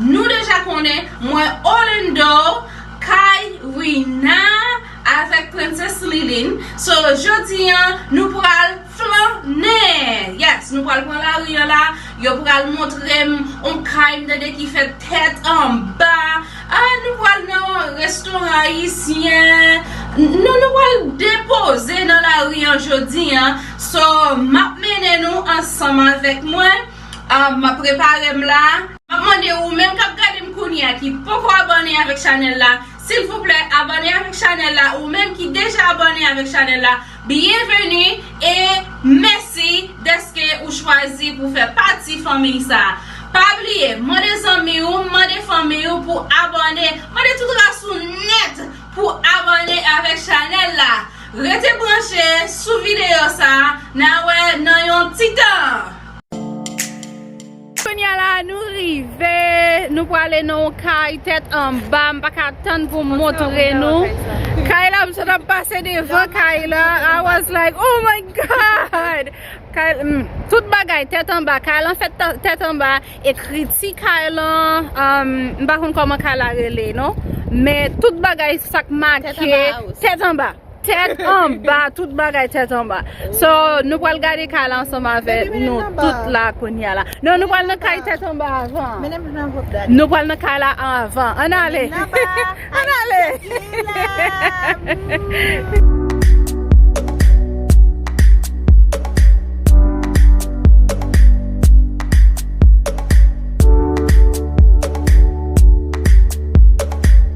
Nou deja konnen mwen Orlando kay Rina avèk Princess Liline so jodi an nou pral flannen yes nou pral pran lari an la yo pral montrem on kay m tande ki fèt tèt anba ah nou pral nan restoran ayisyen nou nou pral depoze nan lari an jodi an so map mennen nou ansanm avèk mwen Ahh map preparem la. Map mande ou menm kap gadem kounyea ki poko abòne avèk chanèl la silvouplè abòne avèk chanèl la ou menm ki deja abòne avèk chanèl la byenveni e mèsi dèske ou chwazi pou fè pati fanmiy sa pa bliye mande zanmi ou mande fanmiy ou pou abòne mande tout ras ou nèt pou abòne avèk chanèl la rete branche sou videyo sa na wè nan yon ti tan. Kounya la nou rive, nou prale nan yon kay tèt anba, m paka tann pou m montre nou kay la, m sot ap pase devan kay la, I was like oh my God! Kay la, tout bagay tèt anba, kay lan fèt tèt anba, ekriti kay lan, m pa konn kòman kay la rele non, men tout bagay sak make, tèt anba! Tèt anba, tout bagay tèt anba So nou pral gade kay la ansanm avè nou tout la kounya la Non nou pral nan kay tèt anba avan Nou pral nan kay la avan An ale An ale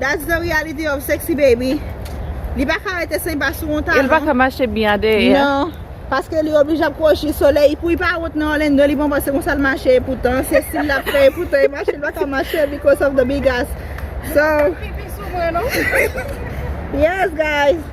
That's the reality of sexy baby Li pa ka rete sen pa sou yon talon El pa ka mache byen a dèyè Nan Paske li oblije ap kwochi solèy Pou li pa wont nan Orlando li panse se konsa l mache Epoutan se stil l ap fè Epoutan e mache li pa ka mache Because of the big ass So Pipi sou mwen non Yes guys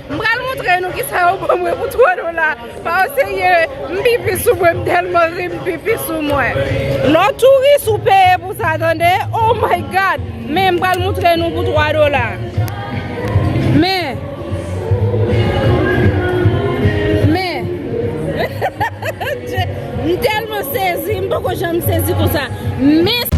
M pral montre nou kisa yo ban mwen pou 3 dola pa o serye m pipi sou mwen m telman ri m pipi sou mwen non touris ou peye pou sa tande oh my god men m pral montre nou pou 3 dola men men m telman sezi m poko janm sezi konsa men.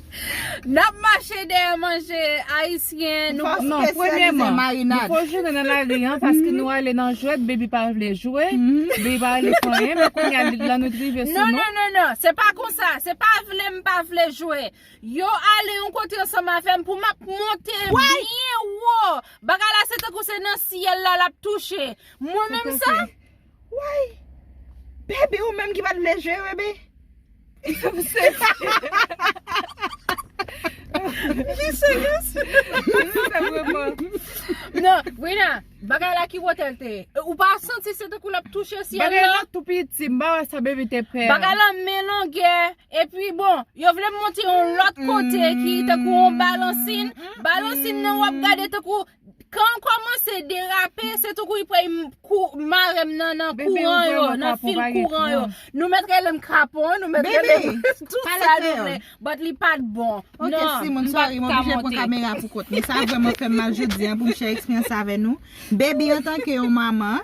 Nap mache dèyè manje ayisyen nou pa nan premyèman nou ko jounen nan lari an paske nou ale nan jwèt baby pa vle jwe baby pa vle fè anyen men kounya lanwit rive sou nou non non non se pa konsa se pa vle m pa vle jwe yo ale yon kote ansanm avèm pou map monte byen wo bagay la se tankou se nan syèl la lap touche mwen menm sa. Woy! Bebe ou menm ki pat vle jwe bebe. Jisè jis. Non, Brina, bagay la ki wote l te ye? Ou pa santi se tankou l ap touche syèl la? Bagay lan tou piti, m pa wè sa bebe te pè. Bagay lan men longè, epi bon, yo vle montre yon lòt kote ki tankou yon balansin, balansin nan w ap gade tankou Kanl komanse derape se toukou li pwey marem nan nan kouran yo nan fil kouran yo nou met relem krapon nou met relem tout sa nou vle but li pat bon nan m pat ka monte. Sa vreman fem mal jodi an poum share eksperyans sa avè nou. Baby antanke yon manman.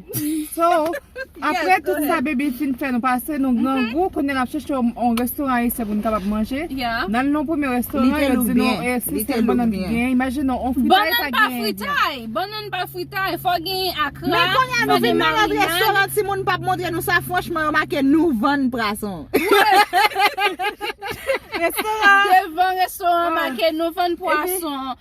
So, aprè tout sa Bebe fin fè nou pase, nou grangou, kounye a n ap chèche yon restoran ayisyen pou n kapab manje. N al nan yon premye restoran, yo di nou e si se bannann ki genyen, imajine nou, yon fritay pa genyen vyann. Bannann pa fritay, fò w genyen akra, fò w genyen marina. Men kounye a nou vin nan lòt restoran, timoun pa p montre nou sa, franchman yo make nou vann prason. Restoran. Devan restoran make nou vann pwason.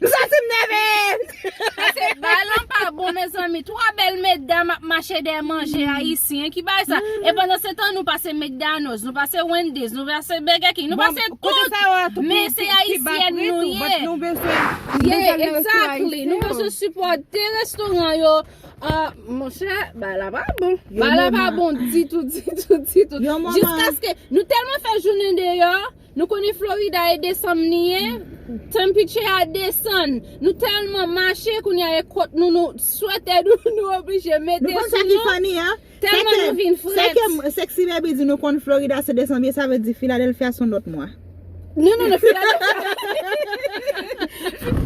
M santim nève. Pase bay lan pa bon mezanmi 3 bèl medam ap mache dèyè manje ayisyen ki bay sa e pandan se tan nou pase mcdonalds nou pase wendy's nou pase burger king nou pase tout men se ayisyen nou ye yeah exactly nou bezwen sipòte restoran yo monchè bay la pa bon bay la pa bon ditou ditou ditou jiskaske nou tèlman fè jounen deyò Nou konnen Florida e desanm li ye, temperature a desann, nou tèlman mache kounye a e kot nou nou swetè nou oblije mete sou nou. Nou konn sa ki funny an? Tèlman nou vin frèt. Se ke Sexy Baby di nou konn Florida se desanm ye sa vle di Philadelphia son lòt mwa. Non non non Philadelphia.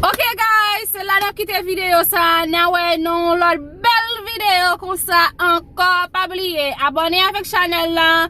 Ok guys se la nap kite video sa na wè nan yon lòt bèl video konsa ankò pa bliye abone avèk chanèl lan.